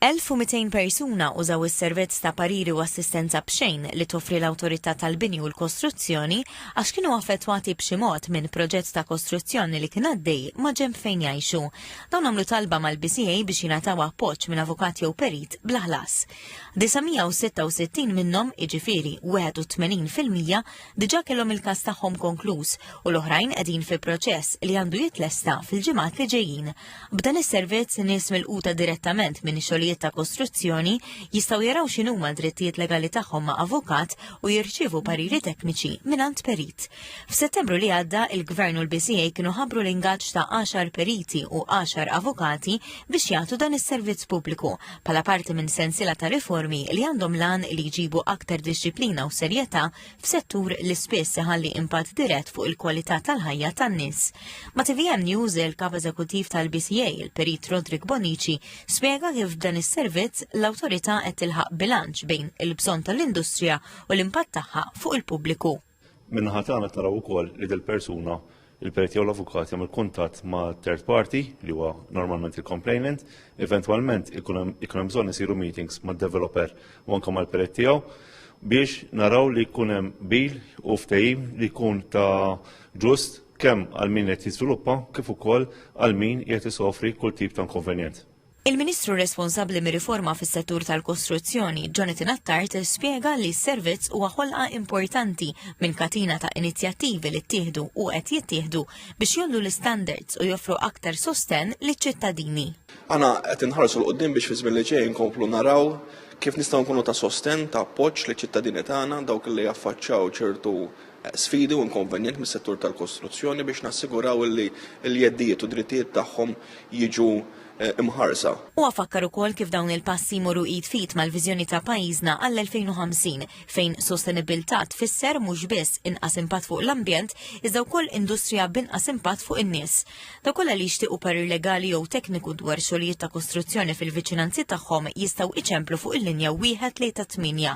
1,200 persuna użaw is-servizz ta' pariri u assistenza b'xejn li toffri l-Awtorità tal-Bini u l-Kostruzzjoni għax kienu affettwati b'xi mod minn proġett ta' kostruzzjoni li kien għaddej maġenb fejn jgħixu. Dawn għamlu talba mal-BCA biex jingħataw appoġġ minn avukat jew perit bla ħlas. 966 minnhom, jiġifieri 81 fil-mija, diġà kellhom il-każ tagħhom konkluż u l-oħrajn qegħdin fi proċess li għandu jitlesta fil-ġimgħat li ġejjin. B'dan is-servizz, nies milquta direttament minn xogħlijiet ta' kostruzzjoni jistgħu jaraw x'inhuma drittijiet legali tagħhom ma' avukat u jirċievu pariri tekniċi mingħand perit. F'Settembru li għadda, il-Gvern u l-BCA kienu ħabru l-ingaġġ ta' 10 periti u 10 avukati biex jagħtu dan is-servizz pubbliku bħala parti minn sensila ta' riformi li għandhom lan li jġibu aktar dixxiplina u serjetà f'settur li spiss iħalli impatt dirett fuq il-kwalità tal-ħajja tan-nies. Ma' TVM News il-Kap Eżekuttiv tal-BCA, il-Perit Rodrik Bonici, spjega kif dan is-servizz l-awtorità qed tilħaq bilanċ bejn il-bżonn tal-industrija u l-impatt tagħha fuq il-pubbliku. Minnaħa tagħna taraw ukoll li dil-persuna il-periti jew l-avukat jagħmel kuntatt ma' third party li huwa normalment il-complainant, eventwalment ikun hemm bżonn isiru meetings mad-developer u anke mal-perit tiegħu biex naraw li jkun hemm bil u ftehim li jkun ta' ġust kemm għal min qed jiżviluppa kif ukoll għal min qed isofri kull tip ta' inkonvenjent. Il-Ministru responsabbli mir-riforma fis-settur tal-kostruzzjoni, Jonathan Attard, spjega li s-servizz huwa ħolqa importanti minn katina ta' inizjattivi li ttieħdu u qed jittieħdu biex jgħollu l-istandards u joffru aktar sostenn liċ-ċittadini. Aħna qed inħarsu 'l quddiem biex fiż-żmien li ġej inkomplu naraw kif nistgħu nkunu ta' sostenn, ta' appoġġ liċ-ċittadini tagħna, dawk li jaffaċċaw ċertu sfidi u inkonvenjent mis-settur tal-kostruzzjoni biex nassiguraw li l-jeddijiet u d-drittijiet tagħhom jiġu mħarsa. Huwa fakkar ukoll kif dawn il-passi jmorru id f'id mal-viżjoni ta' pajjiżna għall-2050 fejn sostenibbiltà tfisser mhux biss inqas impatt fuq l-ambjent iżda wkoll industrija b'inqas impatt fuq in-nies. Dawk kollha li jixtiequ parir legali jew tekniku dwar xogħlijiet ta' kostruzzjoni fil-viċinanzi tagħhom jistgħu iċemplu fuq il-linja wieħed tlieta tmienja